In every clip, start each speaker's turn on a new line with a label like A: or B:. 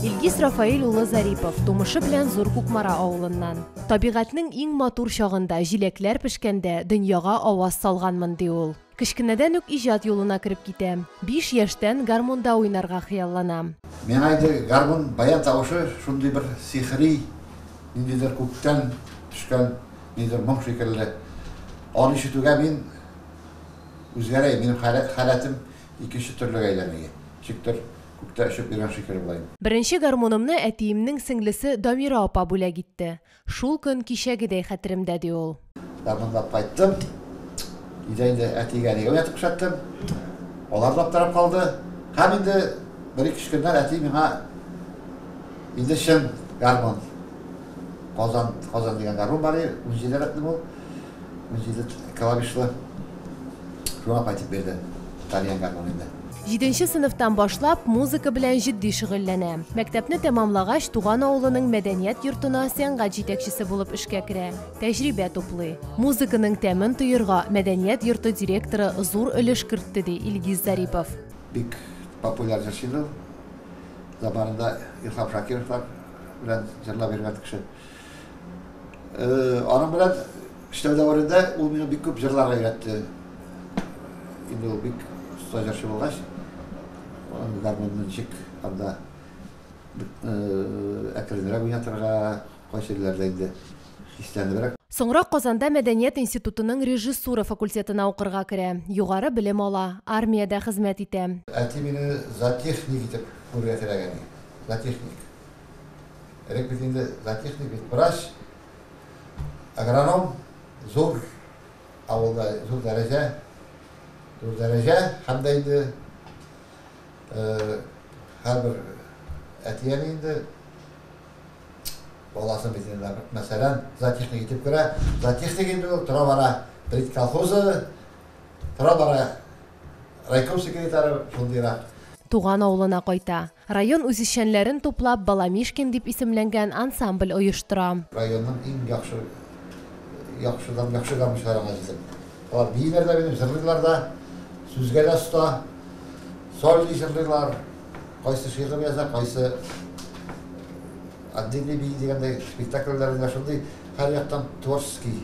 A: Илгиз Рафаил улы Зарипов тумышы белән Зур Кукмара авылыннан. Табигатьнең иң матур чагында, җиләкләр пешкәндә дөньяга аваз салганмын, ди ул. Кечкенәдән үк иҗат юлына кереп китә. Биш яшьтән гармунда уйнарга хыяллана. Миңа инде гармун, баян тавышы шундый бер сихри, ниндидер күктән төшкән ниндидер моң шикелле. Аны ишетүгә мин үзгәрәем, минем халәтем икенче төрлегә әйләнә. Ничектер күктә очып йөргән шикелле булаем. Беренче гармунымны әтиемнең сеңлесе Дамира апа бүләк итте. Шул көн кичәгедәй хәтеремдә, ди ул. Ябынлап кайттым. Өйдә инде әти-әнигә уятып күрсәттем. Алар да аптырап калды. Һәм инде бер-ике-өч көннән әти миңа инде чын гармун, Казан дигән гармун бар иде, унҗиде рәтле бу. Җиде клавишлы журнал кайтып бирде. Итальян гармонында. Җиденче сыйныфтан башлап музыка белән җитди шөгыльләнә. Мәктәпне тәмамлагач, туган авылының мәдәният йортына сәнгать җитәкчесе булып эшкә керә, тәҗрибә туплый. Музыканың тәмен тоерга мәдәният йорты директоры зур өлеш кертте, ди Илгиз Зарипов. Бик популяр җырчы иде ул. Заманында Илһам Шакировлар белән җырлап йөргән кеше. Аның белән эшләү дәверендә ул мине бик күп җырларга өйрәтте. Инде ул бик оста җырчы булгач, аның гармонын ничек анда әкренрәк уйнатырга, кайсы җирләрдә инде хисләнебрәк. Соңрак Казанда мәдәният институтының режиссура факультетына укырга керә, югары белем ала, армиядә хезмәт итә. Әти мине зоотехник итеп күрергә теләгән иде. Зоотехник. Элек бит инде зоотехник бит врач, агроном, зур авылда зур дәрәҗә, зур дәрәҗә һәм дә инде һәрбер әтияне инде баласын бит инде мәсәлән зоотехник итеп керә, зоотехник инде ул тора бара пред колхозы, тора бара райком секретары шундыйрак. Туган авылына кайта. Район үзешчәнләрен туплап, Баламишкин дип исемләнгән ансамбль оештыра. Районның иң яхшы яхшыдан яхшы гармунчыларына җитеп. Алар бииләр дә минем, җырлыйлар да, сүзгә дә оста, сольный җырлыйлар, кайсы шигырь яза, кайсы отдельный бии дигәндәй, спектакльләрендә шундый һәрьяктан творческий.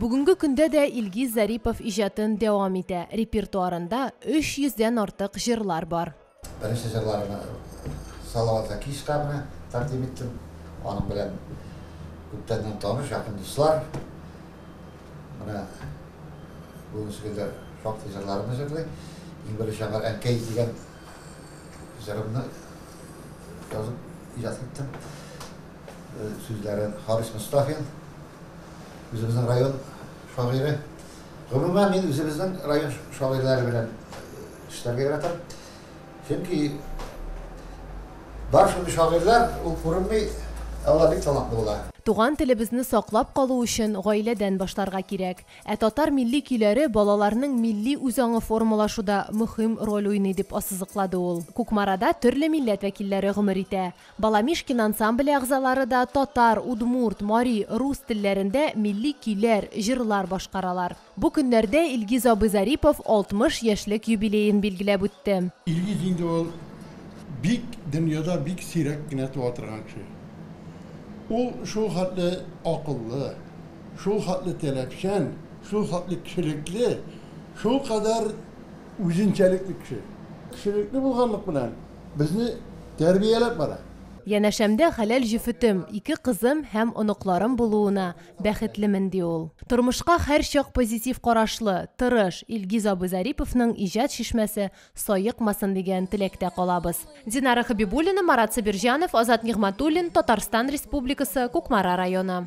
A: Бүгенге көндә дә Илгиз Зарипов иҗатын дәвам итә, репертуарында 300 дән артык җырлар бар. Беренче җырларымны Салават Закишка менә тәкъдим иттем. Аның белән күптәннән таныш, якын дуслар. Менә бүгенге көндә шактый җырларымны җырлый. Иң беренче аңар Әнкәй дигән җырымны язып иҗат иттем. Сүзләре Харис Мостафин, үзебезнең район шагыйре. Гомумән, мин үзебезнең район шагыйрьләре белән эшләргә яратам. Чөнки бар шундый шагыйрьләр, ул күренми, ә алар бик талантлы була. Туган телебезне саклап калу өчен гаиләдән башларга кирәк. Ә татар милли көйләре балаларның милли үзаңы формалашуда мөһим роль уйный, дип ассызыклады ул. Кукмарада төрле милләт вәкилләре гомер итә. Баламишкин ансамбле әгъзалары да татар, удмурт, мари, рус телләрендә милли көйләр, җырлар башкаралар. Бу көннәрдә Илгиз абый Зарипов 60 яшьлек юбилеен билгеләп үтте. Илгиз инде ул бик дөньяда бик сирәк кенә туа торган кеше. Ул шул хәтле акыллы, шул хәтле таләпчән, шул хәтле кешелекле, шулкадәр үзенчәлекле кеше. Кешелекле булганлык белән Безне тәрбияләп бара. Янәшәмдә хәләл җефетем, ике кызым һәм оныкларым булуына бәхетлемен, ди ул. Тормышка һәрчак позитив карашлы, тырыш Илгиз абый Зариповның иҗат чишмәсе саекмасын дигән теләктә калабыз. Динара Хәбибуллина, Марат Сабирҗанов, Азат Нигъмәтуллин, Татарстан Республикасы, Кукмара районы.